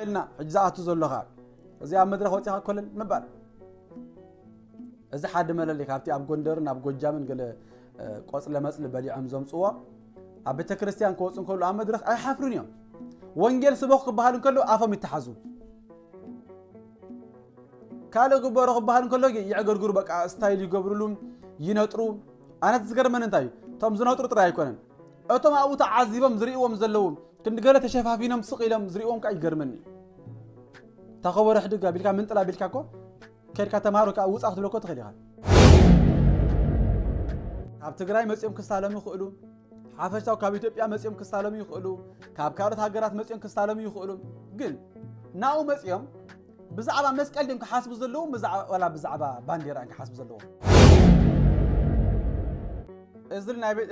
ኢልና ሕጂ ዝኣቱ ዘሎ ከ እዚ ኣብ መድረኽ ወፂኻ ኮለል ምባል እዚ ሓዲ መለለይ ካብቲ ኣብ ጎንደርን ኣብ ጎጃምን ገለ ቆፅለ መፅሊ በሊዖም ዘምፅዎ ኣብ ቤተ ክርስቲያን ክወፁ እንከሉ ኣብ መድረኽ ኣይሓፍሩን እዮም ወንጌል ስበኹ ክበሃል እንከሎ ኣፎም ይተሓዙ ካልእ ግበሮ ክበሃል እንከሎ ይዕገርግሩ በቃ ስታይል ይገብርሉ ይነጥሩ ኣነት ዝገርመን እንታይ እዩ እቶም ዝነጥሩ ጥራይ ኣይኮነን እቶም ኣብኡ ተዓዚቦም ዝርእይዎም ዘለዉ ክንዲ ገለ ተሸፋፊኖም ስቕ ኢሎም ዝርእዎም ከዓ ይገርመኒ እታ ከበሮ ሕድግ ኣቢልካ ምንጥል ኣቢልካ እኮ ከድካ ተምሃሮ ከዓ ውፃ ክትብሎ እኮ ትኽእል ኢኻ ካብ ትግራይ መፂኦም ክሳለሙ ይኽእሉ ሓፈሻው ካብ ኢትዮጵያ መፂኦም ክሳለሙ ይኽእሉ ካብ ካልኦት ሃገራት መፂኦም ክሳለሙ ይኽእሉ ግን ናብኡ መፂኦም ብዛዕባ መስቀል ድዮም ክሓስቡ ዘለዎም ዋላ ብዛዕባ ባንዴራ እዮም ክሓስቡ ዘለዎም?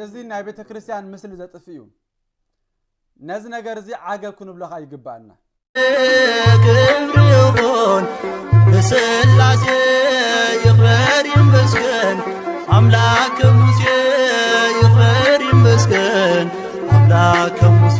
እዚ ናይ ቤተ ክርስቲያን ምስሊ ዘጥፍ እዩ። ነዚ ነገር እዚ ዓገብ ክንብለኻ ይግባኣና። ክብሪ ይኹን ንስላሴ ይኽበር ይመስገን ኣምላክ ሙሴ ይኽበር ይመስገን ኣምላክ ሙሴ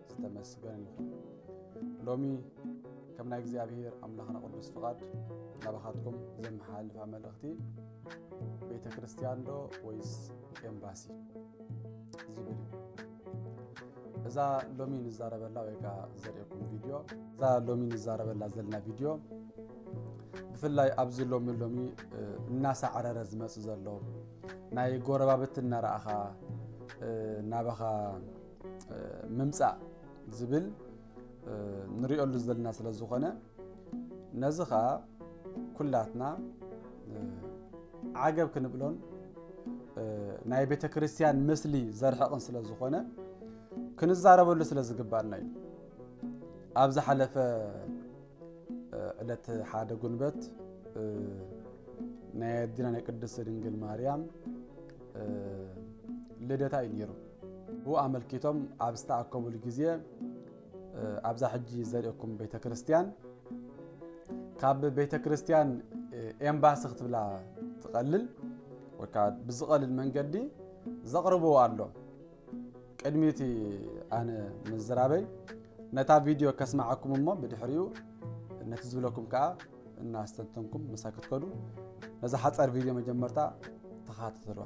ዝተመስገን ይኹን ሎሚ ከም ናይ እግዚኣብሔር ኣምላኽና ቅዱስ ፍቓድ ናባኻትኩም ዘመሓላልፋ መልእኽቲ ቤተ ክርስቲያን ዶ ወይስ ኤምባሲ ዝብል እዩ እዛ ሎሚ ንዛረበላ ወይ ከዓ ዘርእኩም ቪድዮ እዛ ሎሚ ንዛረበላ ዘለና ቪድዮ ብፍላይ ኣብዚ ሎሚ ሎሚ እናሳዕረረ ዝመፅእ ዘሎ ናይ ጎረባብቲ እናረኣኻ ናባኻ ምምፃእ ዝብል ንሪኦሉ ዘለና ስለ ዝኾነ ነዚ ከዓ ኩላትና ዓገብ ክንብሎን ናይ ቤተ ክርስቲያን ምስሊ ዘርሕቕን ስለ ዝኾነ ክንዛረበሉ ስለ ዝግባእና እዩ ኣብ ዝሓለፈ ዕለት ሓደ ጉንበት ናይ ኣዲና ናይ ቅድስቲ ድንግል ማርያም ልደታ እዩ ነይሩ ብኡ ኣመልኪቶም ኣብ ዝተኣከቡሉ ግዜ ኣብዛ ሕጂ ዘርእኩም ቤተ ክርስቲያን ካብ ቤተ ክርስቲያን ኤምባሲ ክትብላ ትቐልል ወይ ከዓ ብዝቐልል መንገዲ ዘቕርብዎ ኣሎ ቅድሚ እቲ ኣነ ምዝራበይ ነታ ቪድዮ ከስማዓኩም እሞ ብድሕሪኡ ነቲ ዝብለኩም ከዓ እናስተንተንኩም ምሳ ክትከዱ ነዛ ሓፀር ቪድዮ መጀመርታ ተኸታተልዋ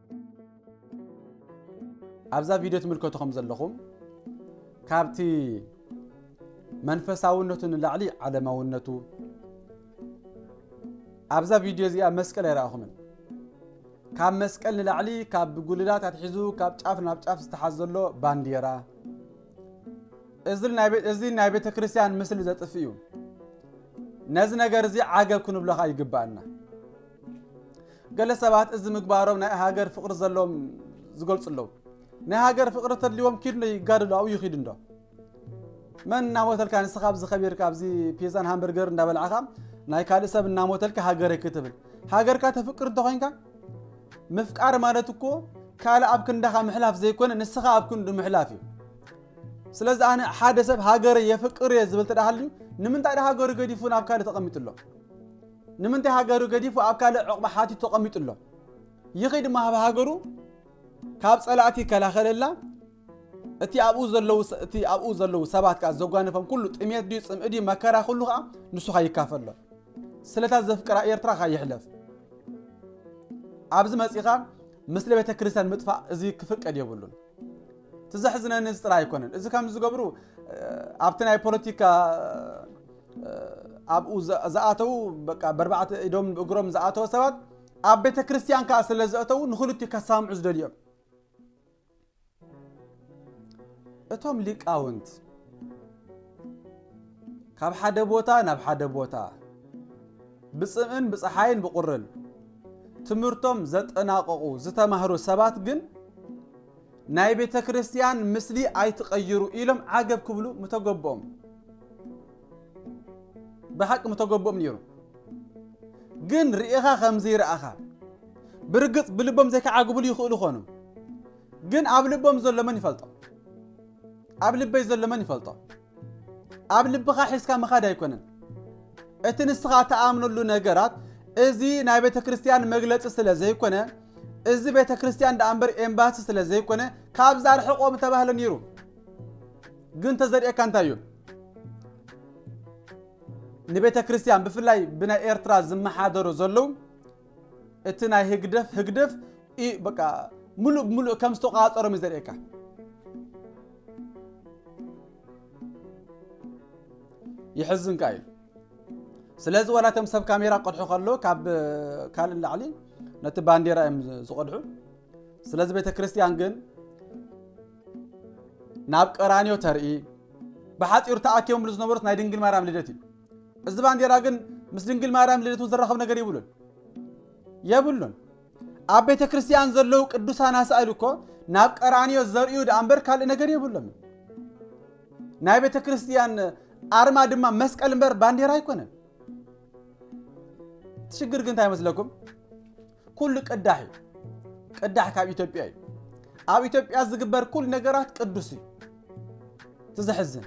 ኣብዛ ቪድዮ ትምልከቱ ከም ዘለኹም ካብቲ መንፈሳውነቱ ንላዕሊ ዓለማውነቱ ኣብዛ ቪድዮ እዚኣ መስቀል ኣይረኣኹምን ካብ መስቀል ንላዕሊ ካብ ጉልላት ኣትሒዙ ካብ ጫፍ ናብ ጫፍ ዝተሓዝ ዘሎ ባንዴራ እዚ ናይ ቤተ ክርስቲያን ምስሊ ዘጥፍ እዩ ነዚ ነገር እዚ ዓገብ ክንብለኻ ይግባእና ገለ ሰባት እዚ ምግባሮም ናይ ሃገር ፍቕሪ ዘለዎም ዝገልጹ ኣለዉ። ናይ ሃገር ፍቕሪ ተድልዎም ኪድዶ ይጋደሉ ኣብኡ ይኺዱ እንዶ መን እናሞተልካ ንስኻ ኣብዚ ከቢርካ ኣብዚ ፒዛን ሃምበርገር እንዳበላዕኻ ናይ ካልእ ሰብ እናሞተልካ ሃገረይ ክትብል ሃገርካ ተፍቅር እንተኾይንካ ምፍቃር ማለት እኮ ካልእ ኣብ ክንዳኻ ምሕላፍ ዘይኮነ ንስኻ ኣብ ክንዱ ምሕላፍ እዩ ስለዚ ኣነ ሓደ ሰብ ሃገረ የፍቅር እየ ዝብል ተዳሃልዩ ንምንታይ ደ ሃገሩ ገዲፉ ናብ ካልእ ተቐሚጡ ኣሎ ንምንታይ ሃገሩ ገዲፉ ኣብ ካልእ ዑቕባ ሓቲቱ ተቐሚጡ ኣሎ? ይኺድ እሞ ኣብ ሃገሩ ካብ ጸላእቲ ይከላኸለላ፣ እቲ ኣብኡ ዘለዉ እቲ ኣብኡ ዘለዉ ሰባት ከኣ ዘጓነፎም ኩሉ ጥሜት ድዩ ጽምኢ ድዩ መከራ ኩሉ ከኣ ንሱ ከኣ ይካፈሎ። ስለታ ዘፍቅራ ኤርትራ ከኣ ይሕለፍ። ኣብዚ መጺኻ ምስሊ ቤተ ክርስቲያን ምጥፋእ እዚ ክፍቀድ የብሉን። እቲ ዘሕዝነኒ እዚ ጥራይ ኣይኮነን። እዚ ከም ዝገብሩ ኣብቲ ናይ ፖለቲካ ኣብኡ ዝኣተዉ በርባዕተ ኢዶም እግሮም ዝኣተወ ሰባት ኣብ ቤተ ክርስቲያን ከዓ ስለ ዘእተዉ ንክልቲኡ ከሳምዑ ዝደልዩ እዮም እቶም ሊቃውንት ካብ ሓደ ቦታ ናብ ሓደ ቦታ ብፅምእን ብፀሓይን ብቁርን ትምህርቶም ዘጠናቀቁ ዝተማህሩ ሰባት ግን ናይ ቤተክርስትያን ምስሊ ኣይትቀይሩ ኢሎም ዓገብ ክብሉ ምተገበኦም ብሓቂ ምተገበኦም ነይሩ ግን ርኢኻ ከምዘይ ረኣኻ ብርግጽ ብልቦም ዘይከዓግብሉ ይኽእሉ ኾኑ ግን ኣብ ልቦም ዘሎ መን ይፈልጦ ኣብ ልበይ ዘሎ መን ይፈልጦ ኣብ ልብኻ ሒዝካ ምኻድ ኣይኮነን እቲ ንስኻ ተኣምነሉ ነገራት እዚ ናይ ቤተ ክርስቲያን መግለፂ ስለ ዘይኮነ እዚ ቤተ ክርስቲያን ደኣ እምበር ኤምባሲ ስለ ዘይኮነ ካብዛ ርሕቆም ተባህለ ነይሩ ግን ተዘርእካ እንታይ እዩ ንቤተ ክርስቲያን ብፍላይ ብናይ ኤርትራ ዝመሓደሩ ዘለዉ እቲ ናይ ህግደፍ ህግደፍ ምሉእ ብምሉእ ከም ዝተቋፀሮም እዩ ዘርእየካ ይሕዝን ከ እዩ ስለዚ ዋላቶም ሰብ ካሜራ ቅድሑ ከሎ ካብ ካልእ ላዕሊ ነቲ ባንዴራ እዮም ዝቐድሑ ስለዚ ቤተ ክርስቲያን ግን ናብ ቀራንዮ ተርኢ ብሓፂሩ ተኣኪቦምሉ ዝነበሩት ናይ ድንግል ማርያም ልደት እዩ እዚ ባንዴራ ግን ምስ ድንግል ማርያም ልደት ዝራኸብ ነገር ይብሉን የብሉን ኣብ ቤተ ክርስቲያን ዘለዉ ቅዱሳን ኣሳእል እኮ ናብ ቀራንዮ ዘርእዩ ደኣ እምበር ካልእ ነገር የብሎም ናይ ቤተ ክርስቲያን ኣርማ ድማ መስቀል እምበር ባንዴራ ኣይኮነን ሽግር ግን እንታይ መስለኩም ኩሉ ቅዳሕ እዩ ቅዳሕ ካብ ኢትዮጵያ እዩ ኣብ ኢትዮጵያ ዝግበር ኩሉ ነገራት ቅዱስ እዩ ትዘሕዝን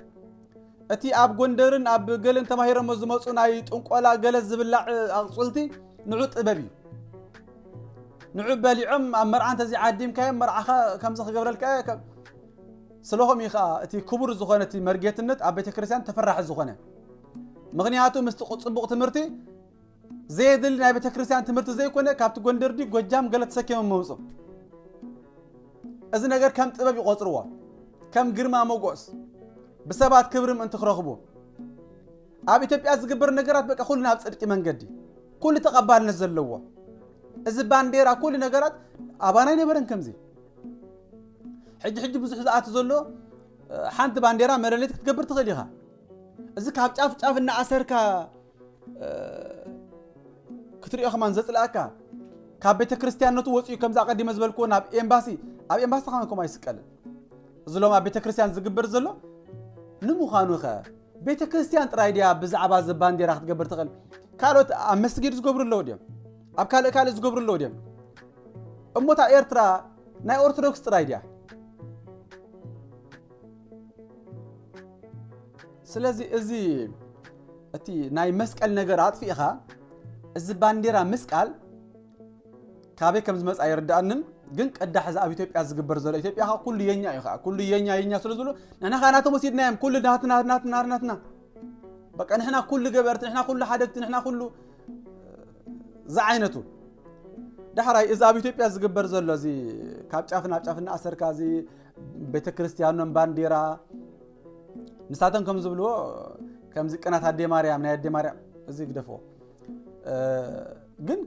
እቲ ኣብ ጎንደርን ኣብ ገለን ተማሂረሞ ዝመፁ ናይ ጥንቆላ ገለ ዝብላዕ ኣቕፅልቲ ንዑ ጥበብ እዩ ንዑ በሊዖም ኣብ መርዓ እንተዘይ ዓዲምካዮም መርዓኻ ከምዚ ክገብረልካ እየ ስለኹም እዩ ከዓ እቲ ክቡር ዝኾነ እቲ መርጌትነት ኣብ ቤተ ክርስቲያን ተፈራሒ ዝኾነ ምክንያቱ ምስቲ ፅቡቕ ትምህርቲ ዘየድሊ ናይ ቤተክርስትያን ትምህርቲ ዘይኮነ ካብቲ ጎንደር ድዩ ጎጃም ገለ ተሰኪሞም መውፁ እዚ ነገር ከም ጥበብ ይቆፅርዎ ከም ግርማ ሞጎስ ብሰባት ክብሪ ምእንቲ ክረኽቡ ኣብ ኢትዮጵያ ዝግበር ነገራት በቃ ኩሉ ናብ ፅድቂ መንገዲ ኩሉ ተቐባልነት ዘለዎ እዚ ባንዴራ ኩሉ ነገራት ኣባና ኣይነበረን ከምዚ ሕጂ ሕጂ ብዙሕ ዝኣት ዘሎ ሓንቲ ባንዴራ መለለይት ክትገብር ትኽእል ኢኻ እዚ ካብ ጫፍ ጫፍ እናኣሰርካ ክትሪኦ ከማን ዘፅላእካ ካብ ቤተ ክርስቲያንነቱ ወፂኡ ከምዚ ኣቀዲመ ዝበልክዎ ናብ ኤምባሲ ኣብ ኤምባሲ ከማን ከምኡ ኣይስቀልን እዚ ሎም ኣብ ቤተ ክርስቲያን ዝግበር ዘሎ ንምዃኑ ከ ቤተ ክርስቲያን ጥራይ ድያ ብዛዕባ እዚ ባንዴራ ክትገብር ትኽእል ካልኦት ኣብ መስጊድ ዝገብሩ ኣለዉ ድዮም ኣብ ካልእ ካልእ ዝገብሩ ኣለዉ ድዮም እሞታ ኤርትራ ናይ ኦርቶዶክስ ጥራይ ድያ ስለዚ እዚ እቲ ናይ መስቀል ነገር ኣጥፊእኻ እዚ ባንዴራ ምስቃል ካበይ ከም ዝመጽ ኣይርዳእንን ግን ቅዳሕ እዚ ኣብ ኢትዮጵያ ዝግበር ዘሎ ኢትዮጵያ ከዓ ኩሉ የኛ እዩ ከዓ ኩሉ የኛ የኛ ስለ ዝብሉ ንሕና ከዓ ናቶም ወሲድና እዮም ኩሉ ናትና ናትና ናትና በቃ ንሕና ኩሉ ገበርቲ ንሕና ኩሉ ሓደግቲ ንሕና ኩሉ ዝዓይነቱ ዳሕራይ እዚ ኣብ ኢትዮጵያ ዝግበር ዘሎ እዚ ካብ ጫፍ ናብ ጫፍ እናኣሰርካ እዚ ቤተ ክርስትያኖም ባንዴራ ንሳቶም ከም ዝብልዎ ከምዚ ቅናት ኣዴ ማርያም ናይ ኣዴ ማርያም እዚ ግደፍዎ ግን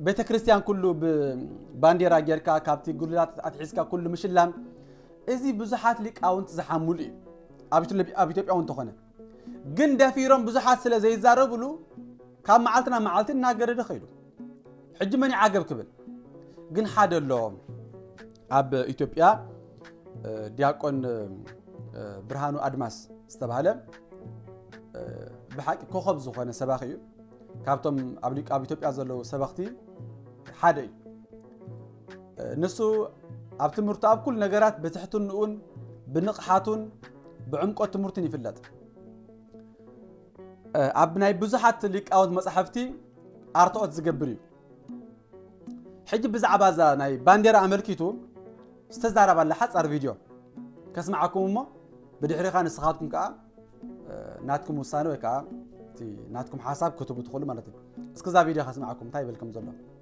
ቤተ ክርስቲያን ኩሉ ብባንዴራ ጌርካ ካብቲ ጉልላት ኣትሒዝካ ኩሉ ምሽላም እዚ ብዙሓት ሊቃውንቲ ዝሓምሉ እዩ ኣብ ኢትዮጵያ እውን ተኾነ ግን ደፊሮም ብዙሓት ስለ ዘይዛረብሉ ካብ መዓልቲ ናብ መዓልቲ እናገደደ ከይዱ ሕጂ መን ይዓገብ ክብል ግን ሓደ ኣሎ ኣብ ኢትዮጵያ ዲያቆን ብርሃኑ ኣድማስ ዝተባህለ ብሓቂ ኮኸብ ዝኾነ ሰባኺ እዩ ካብቶም ኣብ ሊቅ ኣብ ኢትዮጵያ ዘለዉ ሰበኽቲ ሓደ እዩ ንሱ ኣብ ትምህርቱ ኣብ ኩሉ ነገራት ብትሕትንኡን ብንቕሓቱን ብዕምቆት ትምህርቱን ይፍለጥ ኣብ ናይ ብዙሓት ሊቃውንት መጻሕፍቲ ኣርትኦት ዝገብር እዩ ሕጂ ብዛዕባ እዛ ናይ ባንዴራ ኣመልኪቱ ዝተዛረባላ ሓፃር ቪድዮ ከስምዓኩም እሞ ብድሕሪኻ ንስኻትኩም ከዓ ናትኩም ውሳነ ወይ ከዓ ናትኩም ሓሳብ ክትቡ ትኽእሉ ማለት እዩ እስኪ እዛ ቪድዮ ከስምዓኩም እንታይ ይብል ከም ዘሎ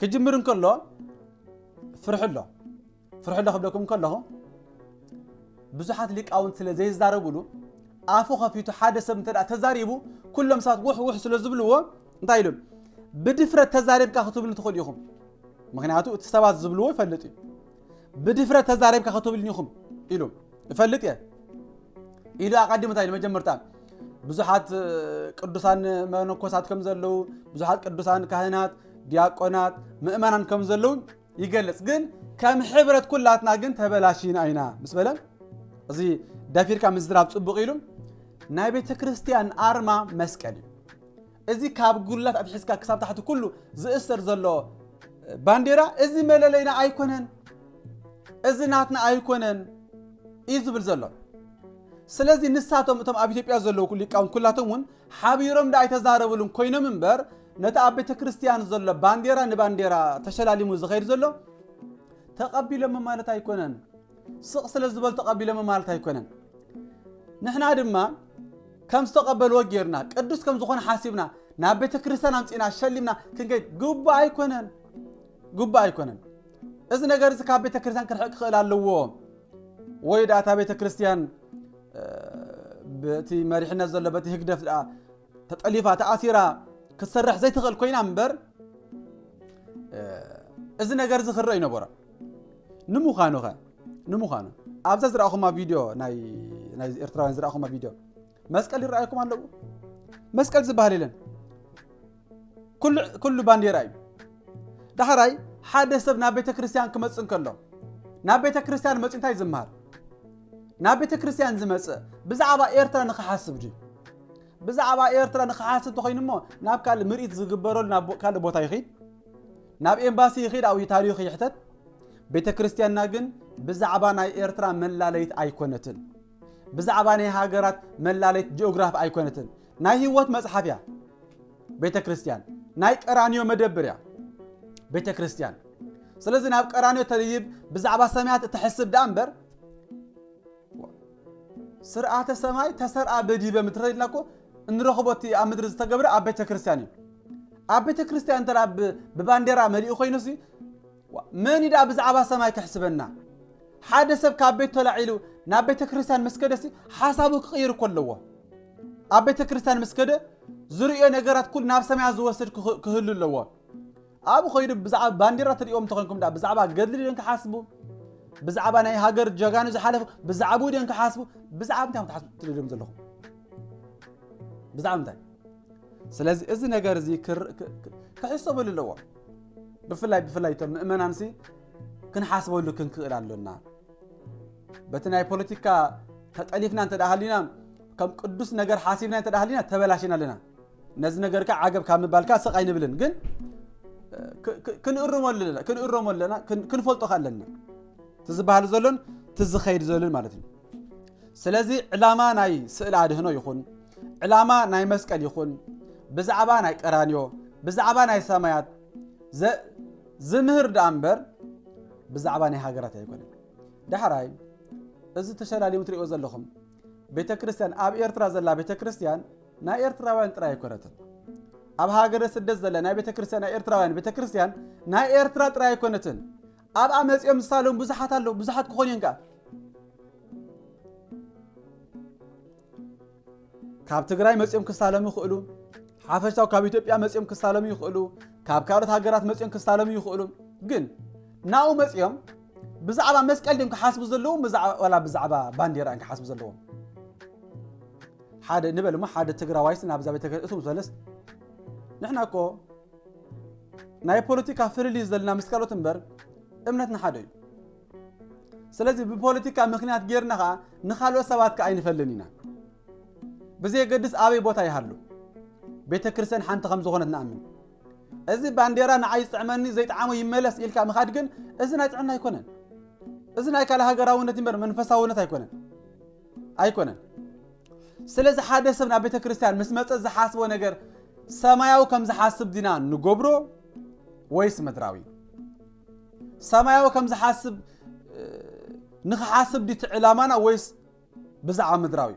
ክጅምር እንከሎ ፍርሒ ኣሎ ፍርሒ ኣሎ ክብለኩም ከለኹ ብዙሓት ሊቃውንት ስለ ዘይዛረብሉ ኣፉ ከፊቱ ሓደ ሰብ እንተ ተዛሪቡ ኩሎም ሰባት ውሕ ውሕ ስለ ዝብልዎ እንታይ ኢሉ ብድፍረት ተዛሪብካ ክትብሉ ትኽእሉ ኢኹም ምክንያቱ እቲ ሰባት ዝብልዎ ይፈልጥ እዩ ብድፍረት ተዛሪብካ ክትብልኒ ኢኹም ኢሉ እፈልጥ እየ ኢሉ ኣቐዲሙ እንታይ ኢሉ መጀመርታ ብዙሓት ቅዱሳን መነኮሳት ከም ዘለዉ ብዙሓት ቅዱሳን ካህናት ዲያቆናት ምእመናን ከም ዘለዉ ይገልጽ ግን ከም ሕብረት ኩላትና ግን ተበላሽና ኢና ምስ በለ እዚ ደፊርካ ምዝራብ ፅቡቕ ኢሉ ናይ ቤተ ክርስቲያን ኣርማ መስቀል እዩ እዚ ካብ ጉልላት ኣትሒዝካ ክሳብ ታሕቲ ኩሉ ዝእሰር ዘሎ ባንዴራ እዚ መለለይና ኣይኮነን፣ እዚ ናትና ኣይኮነን እዩ ዝብል ዘሎ። ስለዚ ንሳቶም እቶም ኣብ ኢትዮጵያ ዘለዉ ሊቃውንት ኩላቶም እውን ሓቢሮም ደኣ ኣይተዛረብሉን ኮይኖም እምበር ነቲ ኣብ ቤተ ክርስቲያን ዘሎ ባንዴራ ንባንዴራ ተሸላሊሙ ዝኸይድ ዘሎ ተቐቢሎሞ ማለት ኣይኮነን። ስቕ ስለ ዝበሉ ተቐቢሎሞ ማለት ኣይኮነን። ንሕና ድማ ከም ዝተቐበልዎ ጌርና ቅዱስ ከም ዝኾነ ሓሲብና ናብ ቤተ ክርስቲያን ኣምፂና ሸሊምና ክንገድ ግቡእ ኣይኮነን፣ ግቡእ ኣይኮነን። እዚ ነገር እዚ ካብ ቤተ ክርስቲያን ክርሕቅ ክኽእል ኣለዎ ወይ ደኣ እታ ቤተ ክርስቲያን በቲ መሪሕነት ዘሎ በቲ ህግደፍ ደኣ ተጠሊፋ ተኣሲራ ክትሰርሕ ዘይትኽእል ኮይና እምበር እዚ ነገር እዚ ክረእ ይነበሮ ንምዃኑ ኸ ንምዃኑ ኣብዛ ዝረኣኹማ ቪድዮ ናይ ኤርትራውያን ዝረኣኹማ ቪድዮ መስቀል ይረኣየኩም ኣለዎ መስቀል ዝበሃል የለን ኩሉ ባንዴራ እዩ ዳሕራይ ሓደ ሰብ ናብ ቤተ ክርስቲያን ክመፅእ እንከሎ ናብ ቤተ ክርስቲያን መፂ እንታይ ዝምሃር ናብ ቤተክርስትያን ዝመጸ ብዛዕባ ኤርትራ ንኽሓስብ ድዩ? ብዛዕባ ኤርትራ ንኽሓስብ ተኾይኑ እሞ ናብ ካልእ ምርኢት ዝግበረሉ ናብ ካልእ ቦታ ይኺድ፣ ናብ ኤምባሲ ይኺድ፣ ኣብኡ ታሪኹ ይሕተት። ቤተ ክርስቲያንና ግን ብዛዕባ ናይ ኤርትራ መላለይት ኣይኮነትን። ብዛዕባ ናይ ሃገራት መላለይት ጂኦግራፍ ኣይኮነትን። ናይ ህይወት መጽሓፍ እያ ቤተ ክርስቲያን። ናይ ቀራንዮ መደብር እያ ቤተ ክርስቲያን። ስለዚ ናብ ቀራንዮ ተልይብ ብዛዕባ ሰማያት እትሕስብ ደኣ እምበር ስርዓተ ሰማይ ተሰርኣ በዲበ ምድረ ኢልና እኮ እንረኽቦ እቲ ኣብ ምድሪ ዝተገብረ ኣብ ቤተ ክርስቲያን እዩ ኣብ ቤተ ክርስቲያን እንተ ብባንዴራ መሊኡ ኮይኑ ሲ መን እዩ ደኣ ብዛዕባ ሰማይ ክሕስበና ሓደ ሰብ ካብ ቤት ተላዒሉ ናብ ቤተ ክርስቲያን ምስ ከደ ሲ ሓሳቡ ክቕይር እኮ ኣለዎ ኣብ ቤተ ክርስቲያን ምስ ከደ ዝርእዮ ነገራት ኩሉ ናብ ሰማያት ዝወስድ ክህሉ ኣለዎ ኣብኡ ከይዱ ብዛዕባ ባንዴራ ትሪኦም እንተኮንኩም ድኣ ብዛዕባ ገድሊ ድዮም ክሓስቡ ብዛዕባ ናይ ሃገር ጀጋኑ ዝሓለፉ ብዛዕብኡ ድዮም ክሓስቡ ብዛዕባ እንታይ ክትሓስቡ ትደልዮም ዘለኹም ብዛዕባ እንታይ ስለዚ እዚ ነገር እዚ ክሕሰበሉ ኣለዎ ብፍላይ ብፍላይ እቶም ምእመናንሲ ክንሓስበሉ ክንክእል ኣሎና በቲ ናይ ፖለቲካ ተጠሊፍና እንተ ሃሊና ከም ቅዱስ ነገር ሓሲብና እንተ ሃሊና ተበላሽና ኣለና ነዚ ነገር ከ ዓገብ ካብ ምባልካ ስቕ ኣይንብልን ግን ክንእርሞ ኣለና ክንእረሞ ኣለና ክንፈልጦ ከ ኣለና እቲ ዝበሃል ዘሎን እቲ ዝኸይድ ዘሎን ማለት እዩ ስለዚ ዕላማ ናይ ስእሊ ኣድህኖ ይኹን ዕላማ ናይ መስቀል ይኹን ብዛዕባ ናይ ቀራንዮ ብዛዕባ ናይ ሰማያት ዝምህር ደኣ እምበር ብዛዕባ ናይ ሃገራት ኣይኮነን ዳሕራይ እዚ ተሸላሊሙ ትሪእዎ ዘለኹም ቤተ ክርስቲያን ኣብ ኤርትራ ዘላ ቤተ ክርስቲያን ናይ ኤርትራውያን ጥራይ ኣይኮነትን ኣብ ሃገረ ስደት ዘላ ናይ ቤተ ክርስቲያን ናይ ኤርትራውያን ቤተ ክርስቲያን ናይ ኤርትራ ጥራይ ኣይኮነትን ኣብኣ መፂኦም ዝሳለሙ ብዙሓት ኣለዉ ብዙሓት ክኾኑ እዮም ከዓ ካብ ትግራይ መፂኦም ክሳለሙ ይኽእሉ ሓፈሻው ካብ ኢትዮጵያ መፂኦም ክሳለሙ ይኽእሉ ካብ ካልኦት ሃገራት መፂኦም ክሳለሙ ይኽእሉ ግን ናብኡ መፂኦም ብዛዕባ መስቀል ድም ክሓስቡ ዘለዎም ዋላ ብዛዕባ ባንዴራ እዮም ክሓስቡ ዘለዎም ሓደ ንበል እሞ ሓደ ትግራዋይስ ናብዛ ቤተ እቶም ዝበለስ ንሕና እኮ ናይ ፖለቲካ ፍልልዩ ዘለና ምስ ካልኦት እምበር እምነት ንሓደ እዩ ስለዚ ብፖለቲካ ምክንያት ጌርና ከዓ ንካልኦት ሰባት ከዓ ኣይንፈልን ኢና ብዘየገድስ ኣበይ ቦታ ይሃሉ ቤተ ክርስትያን ሓንቲ ከም ዝኾነት ንኣምን እዚ ባንዴራ ንዓይ ዝጥዕመኒ ዘይጥዓሞ ይመለስ ኢልካ ምኻድ ግን እዚ ናይ ጥዕና ኣይኮነን። እዚ ናይ ካልእ ሃገራውነት እምበር መንፈሳውነት ኣይኮነን ኣይኮነን። ስለዚ ሓደ ሰብ ናብ ቤተ ክርስቲያን ምስ መፀ ዝሓስቦ ነገር ሰማያዊ ከም ዝሓስብ ዲና ንገብሮ ወይስ ምድራዊ? ሰማያዊ ከም ዝሓስብ ንክሓስብ ዲቲ ዕላማና ወይስ ብዛዕባ ምድራዊ?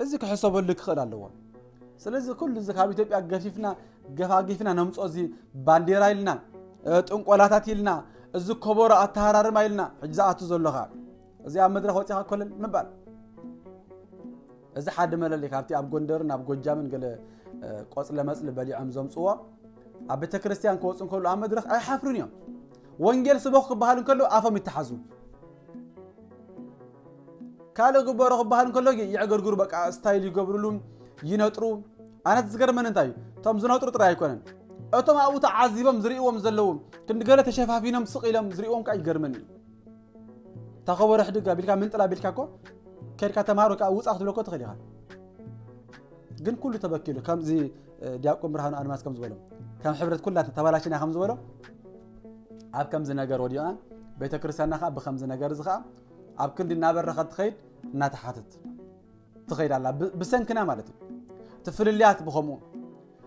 እዚ ክሕሰበሉ ክኽእል ኣለዎ። ስለዚ ኩሉ እዚ ካብ ኢትዮጵያ ገፊፍና ገፋጊፍና ነምፅኦ እዚ ባንዴራ ኢልና ጥንቆላታት ኢልና እዚ ኮቦሮ ኣተሃራርማ ኢልና ሕጂ ዝኣቱ ዘሎኻ እዚ ኣብ መድረኽ ወፂኻ ኮለል ምባል እዚ ሓደ መለለይ ካብቲ ኣብ ጎንደርን ኣብ ጎጃምን ገለ ቆፅለ መፅሊ በሊዖም ዘምፅዎ ኣብ ቤተ ክርስቲያን ክወፁ እንከሉ ኣብ መድረኽ ኣይሓፍሩን እዮም ወንጌል ስበኹ ክበሃል እንከሉ ኣፎም ይተሓዙ ካልእ ግበሮ ክበሃል እንከሎ ግን የዕገርግሩ በቃ ስታይል ይገብርሉ ይነጥሩ ኣነት ዝገርመን እንታይ እዩ እቶም ዝነጥሩ ጥራይ ኣይኮነን እቶም ኣብኡ ተዓዚቦም ዝርእዎም ዘለዉ ክንዲ ገለ ተሸፋፊኖም ስቕ ኢሎም ዝርእዎም ከዓ ይገርመን እዩ እታ ከበሮ ሕድግ ኣቢልካ ምንጥላ ኣቢልካ እኮ ከድካ ተምሃሮ ከዓ ውፃ ክትብለኮ ትኽእል ኢኻ ግን ኩሉ ተበኪሉ ከምዚ ዲያቆን ብርሃኑ ኣድማስ ከም ዝበሎ ከም ሕብረት ኩላትና ተባላሽና ከም ዝበሎ ኣብ ከምዚ ነገር ወዲቓን ቤተ ክርስቲያንና ከዓ ብከምዚ ነገር እዚ ከዓ ኣብ ክንዲ እናበረኸ ትኸይድ እናተሓትት ትኸይድ ኣላ ብሰንክና ማለት እዩ እቲ ፍልልያት ብከምኡ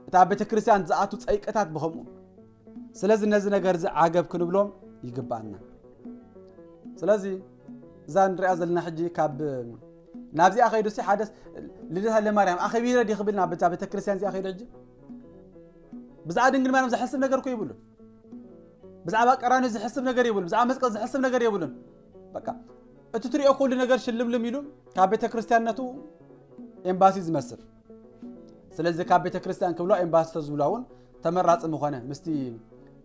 እቲ ኣብ ቤተ ክርስቲያን ዝኣቱ ፀይቅታት ብከምኡ ስለዚ ነዚ ነገር እዚ ዓገብ ክንብሎም ይግባኣና ስለዚ እዛ ንሪኣ ዘለና ሕጂ ካብ ናብዚኣ ከይዱ ሲ ሓደስ ልደታ ለማርያም ኣኸቢረ ዲ ክብል ናብ ዛ ቤተክርስትያን እዚኣ ከይዱ ሕጂ ብዛዕባ ድንግል ማርያም ዝሐስብ ነገር እኮ ይብሉ ብዛዕባ ቀራንዮ ዝሐስብ ነገር ይብሉ ብዛዕባ መስቀል ዝሐስብ ነገር የብሉን በቃ እቲ ትሪኦ ኩሉ ነገር ሽልምልም ኢሉ ካብ ቤተክርስትያንነቱ ኤምባሲ ዝመስል ስለዚ ካብ ቤተክርስትያን ክብሏ ኤምባሲ ተዝብሏ እውን ተመራፂ ምኾነ ምስቲ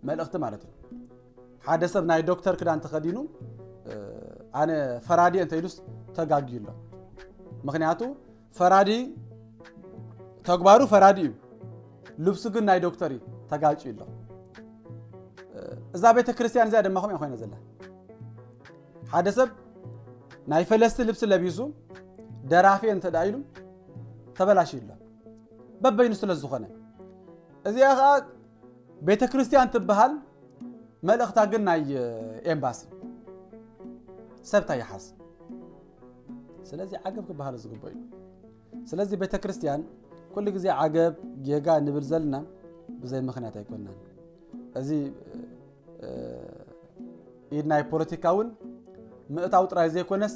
መልእኽቲ ማለት እዩ ሓደ ሰብ ናይ ዶክተር ክዳን ተኸዲኑ ኣነ ፈራዲ እንተኢሉስ ተጋግዩ ኣሎ ምክንያቱ ፈራዲ ተግባሩ ፈራዲ እዩ ልብሱ ግን ናይ ዶክተር እዩ ተጋጭ ኣሎ እዛ ቤተ ክርስቲያን እዚኣ ድማ ከምኡ ኮይነ ዘላ ሓደ ሰብ ናይ ፈለስቲ ልብሲ ለቢሱ ደራፊ እንተ ኢሉ ተበላሽ ኣሎ በበይኑ ስለ ዝኾነ እዚኣ ከዓ ቤተ ክርስቲያን ትበሃል መልእኽታ ግን ናይ ኤምባሲ ሰብታ ይሓዝ ስለዚ ዓገብ ክበሃል ዝግበ እዩ ስለዚ ቤተ ክርስቲያን ኩሉ ግዜ ዓገብ ጌጋ ንብል ዘለና ብዘይ ምክንያት ኣይኮናን እዚ ኢድ ናይ ፖለቲካ እውን ምእታው ጥራይ ዘይኮነስ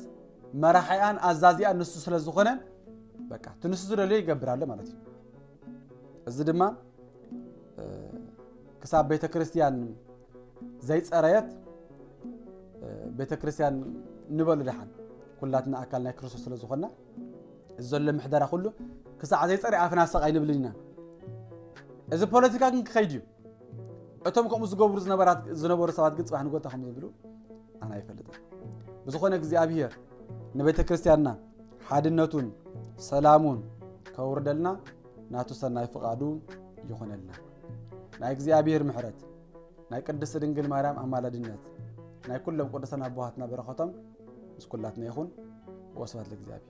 መራሒኣን ኣዛዚኣን ንሱ ስለ ዝኾነ በቃ እቲ ንሱ ዝደልዮ ይገብር ኣሎ ማለት እዩ እዚ ድማ ክሳብ ቤተ ክርስቲያን ዘይፀረየት ቤተ ክርስቲያን ንበሉ ድሓን ኩላትና ኣካል ናይ ክርስቶስ ስለ ዝኾና እዚ ዘሎ ምሕደራ ኩሉ ክሳዕ ዘይፀረ ኣፍና ሰቕ ኣይንብልን ኢና እዚ ፖለቲካ ግን ክኸይድ እዩ እቶም ከምኡ ዝገብሩ ዝነበሩ ሰባት ግን ፅባሕ ንጎታ ከም ዝብሉ ኣነ ኣይፈልጥን ብዝኾነ እግዚኣብሄር ንቤተ ክርስቲያንና ሓድነቱን ሰላሙን ከውርደልና ናቱ ሰናይ ፍቓዱ ይኹነልና ናይ እግዚኣብሄር ምሕረት ናይ ቅድስቲ ድንግል ማርያም ኣማላድነት ናይ ኩሎም ቅዱሳን ኣቦሃትና በረኸቶም ምስ ኩላትና ይኹን ወስባት ለእግዚኣብሄር